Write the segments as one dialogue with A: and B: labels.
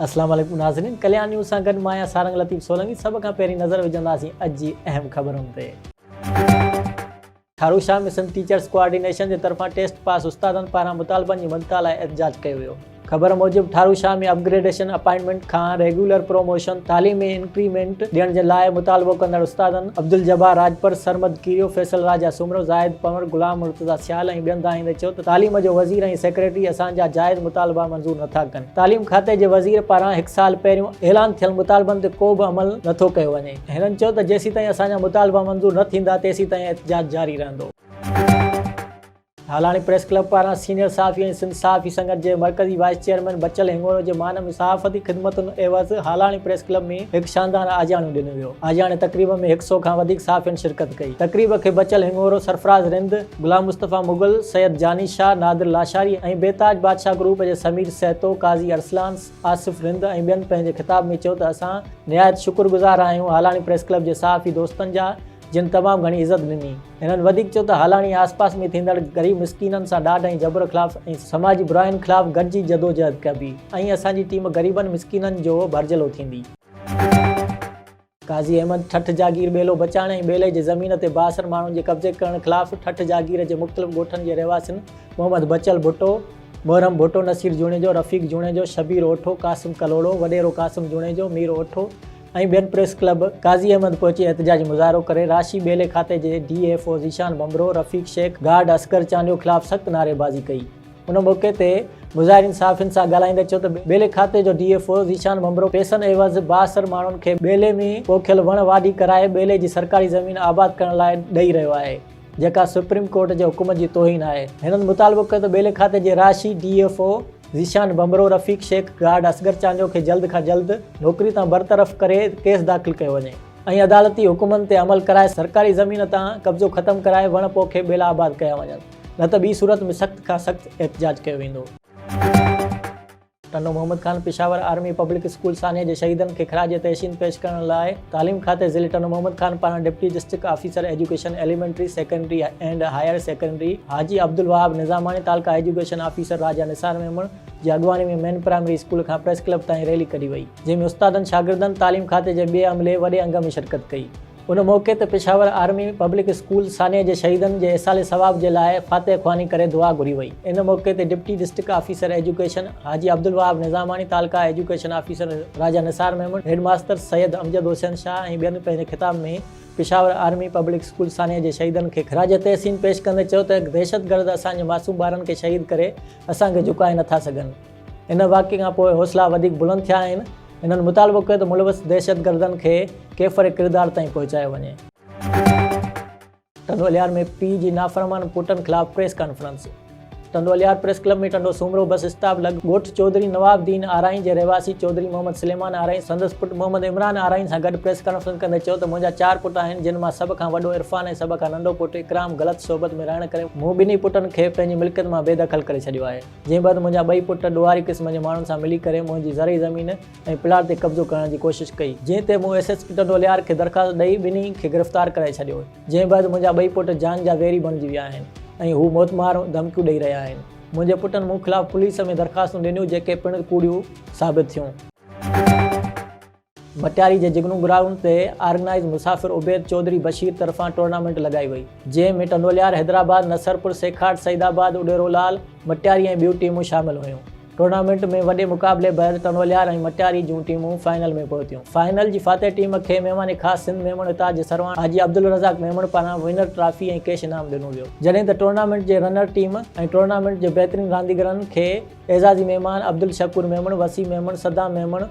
A: السلام عليڪم ناظرين ڪليان نيوز سان گڏ مان آهيان سارنگ لطيف سولنگي سڀ کان پهرين نظر وجهنداسين اڄ جي اهم خبرن تي Tharu Shah mission teachers coordination جي طرفان ٽيسٽ پاس استادن پاران مطالبن جي مڃتا لاء احتجاج ڪيو ويو خبر موجب Tharu Shah ۾ upgradation, appointment کان ريگيولر پروموشن، تعليم ۾ انڪريمينٽ ڏيڻ جي لاء مطالبو ڪندڙ استادن عبدالجبار راڄپر، سرمد ڪيريو، فيصل راجا سومرو، زاهد پنور، غلام مرتضيٰ سيال ۽ ٻين دانهين تي چيو ته تعليم جو وزير ۽ سيڪريٽري اسان جا جائز مطالبا منظور نٿا ڪن، تعليم کاتي جي وزير پاران هڪ سال پهريون اعلان ٿيل مطالبن تي ڪو به عمل نٿو ڪيو وڃي، هنن چيو ته جيسيتائين اسان جا مطالبا منظور نه ٿيندا تيسيتائين احتجاج جاري رهندو. هالاڻي پريس ڪلب پاران سينيئر صحافي ۽ سنڌ صحافي سنگت جي مرڪزي وائيس چيئرمين بچل هنڱورو جي مان ۾ صحافتي خدمتن عيوض هالاڻي پريس ڪلب ۾ هڪ شاندار آجياڻو ڏنو ويو. آجياڻي تقريب ۾ هڪ سئو کان وڌيڪ صحافين شرڪت ڪئي. تقريب کي بچل هنڱورو، سرفراز رند، غلام مصطفيٰ مغل، سيد جاني شاهه، نادر لاشاري ۽ بي تاج بادشاهه گروپ جي سمير سهتو، قاضي ارسلان، آصف رند ۽ ٻين پنهنجي خطاب ۾ چيو ته اسان نهايت شڪر گذار آهيون هالاڻي پريس ڪلب جي صحافي دوستن جا جن تمام گهڻي عزت ڏني. هنن وڌيڪ چيو ته هالاڻي آس پاس ۾ ٿيندڙ غريب مسڪينن سان ڏاڍ ۽ جبر خلاف ۽ سماجي براين خلاف گڏجي جدوجهد ڪبي ۽ اسان جي ٽيم غريبن مسڪينن جو ڀرجهلو ٿيندي. قاضي احمد ٺٽ جاگير ٻيلو بچائڻ ۽ ٻيلي جي زمين تي بااثر ماڻهن جي قبضي ڪرڻ خلاف ٺٽ جاگير جي مختلف ڳوٺن جي رهواسين محمد بچل ڀٽو، محرم ڀٽو، نصير جوڻيجو، رفيق جوڻيجو، شبير اوٺو، قاسم ڪلهوڙو، وڏيرو قاسم جوڻيجو، مير اوٺو، ۽ ٻين پريس ڪلب قاضي احمد پهچي احتجاجي مظاهرو ڪري راشي ٻيلي کاتي جي D F O Zeeshan Bhambhro, Rafiq Shaikh, guard Asghar Chandio خلاف سخت نعري بازي ڪئي. ان موقعي تي مظاهرين صحافين سان ڳالهائيندي چيو ته ٻيلي کاتي جو D F O Zeeshan Bhambhro پيسن عيوض بااثر ماڻهن کي ٻيلي ۾ پوکيل وڻ واڍي ڪرائي ٻيلي جي سرڪاري زمين آباد ڪرڻ لاء ڏئي رهيو آهي. جيڪا سپريم ڪورٽ جي حڪم جي توهين آهي. هنن مطالبو ڪيو ته ٻيلي کاتي جي رهاشي D F O Zeeshan Bhambhro, Rafiq Shaikh, guard Asghar Chandio کي جلد کان جلد نوڪري تان برطرف ڪري ڪيس داخل ڪيو وڃي ۽ عدالتي حڪمن تي عمل ڪرائي سرڪاري زمين تان قبضو ختم ڪرائي وڻ پوکي ٻيلا آباد ڪيا وڃن نه ته ٻي صورت ۾ سخت کان سخت احتجاج ڪيو ويندو. Tando Muhammad Khan Peshawar army public school سانحي جي شهيدن کي خراج تحسين پيش ڪرڻ لاء تعليم کاتي ضلعي ٽنڊو محمد خان پاران deputy district officer education elementary secondary and higher secondary Haji Abdulwahab Nizamani taluka education officer Raja Nisar Memon جي اڳواڻي ۾ مين پرائمري اسڪول کان پريس ڪلب تائين ريلي ڪڍي وئي جنهن ۾ استادن شاگردن تعليم کاتي جي ٻئي عملي وڏي انگ ۾ شرڪت ڪئي. ان موقعي تي پشاور آرمي پبلڪ اسڪول سانحي جي شهيدن جي ايصال ثواب جي لاء فاتح خواني ڪري دعا گهري وئي. ان موقعي تي deputy district officer education Haji Abdulwahab Nizamani, taluka education officer Raja Nisar Memon, headmaster Syed Amjad Hussain Shah ۽ ٻين پنهنجي خطاب ۾ پشاور آرمي پبلڪ اسڪول سانحي جي شهيدن کي خراج تحسين پيش ڪندي چيو ته دهشتگرد اسان جي معصوم ٻارن کي شهيد ڪري اسان کي جهڪائي نٿا سگهن. ان واقعي کان پوء حوصلا وڌيڪ بلند ٿيا آهن. هنن مطالبو ڪيو ته ملوث دهشتگردن کي ڪيفر ڪردار تائين پهچايو وڃي. ٽنڊو الهيار ۾ پيء جي نافرمان پٽن خلاف press conference Tando Allahyar press club ۾ Tando Soomro bus stop لڳ ڳوٺ چوڌري نواب الدين آرائين جي رهواسي چوڌري محمد سليمان آرائين سندس پٽ محمد عمران آرائين سان گڏ پريس ڪانفرنس ڪندي چيو ته منهنجا چار پٽ آهن جن مان سڀ کان وڏو عرفان ۽ سڀ کان ننڍو پٽ اڪرام غلط صحبت ۾ رهڻ ڪري مون ٻنهي پٽن کي پنهنجي ملڪيت مان بي دخل ڪري ڇڏيو آهي. جنهن بعد منهنجا ٻئي پٽ ڏوهاري قسم جي ماڻهن سان ملي ڪري منهنجي زرعي زمين ۽ پلاٽ تي قبضو ڪرڻ جي ڪوشش ڪئي جنهن تي مون S S P Tando Allahyar کي درخواست ڏئي ٻنهي کي گرفتار ڪرائي ڇڏيو جنهن بعد منهنجا ٻئي پٽ جان جا ويري بڻجي ويا آهن ۽ هو موتمار ڌمڪيون ڏئي رهيا آهن منهنجي پٽن مون خلاف پوليس ۾ درخواستون ڏنيون جيڪي پڻ ڪوڙيون ثابت ٿيون. ڀٽياري جي جگنو گرائونڊ تي آرگنائيز مسافر عبيد چوڌري بشير طرفان ٽورنامينٽ لڳائي وئي جنهن ۾ ٽنڊوليار حيدرآباد نصرپور سيکاٽ سعيد آباد اڏيرو لال مٽياري ۽ ٻيون ٽيمون شامل هيون ٽورنامينٽ ۾ وڏي مقابلي بعد ٽنڊوليار ۽ مٽياري جون ٽيمون فائنل ۾ پهتيون فائنل جي فاتح ٽيم کي مهمان خاص سنڌ ميمڻ اتار جي سرواڻ حاجي عبدالرزاق ميمڻ پاران ونر ٽرافي ۽ ڪيش انعام ڏنو ويو جڏهن ته ٽورنامينٽ جي رنر ٽيم ۽ ٽورنامينٽ جي بهترين رانديگرن کي اعزازي مهمان عبدالشڪور ميمڻ وسيم ميمڻ صدام ميمڻ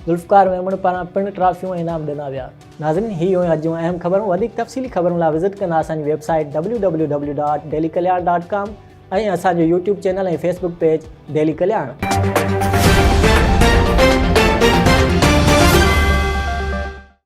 A: ذوالفقار ميمڻ پاران پڻ ٽرافيون ۽ انعام ڏنا ويا. ناظرين هي هيون اڄ جون اهم خبرون وڌيڪ تفصيلي خبرن لاء وزٽ ڪندا اسان جي website W W W dot daily Kaliyan dot com ۽ اسان جو YouTube channel ۽ Facebook page daily ڪلياڻ.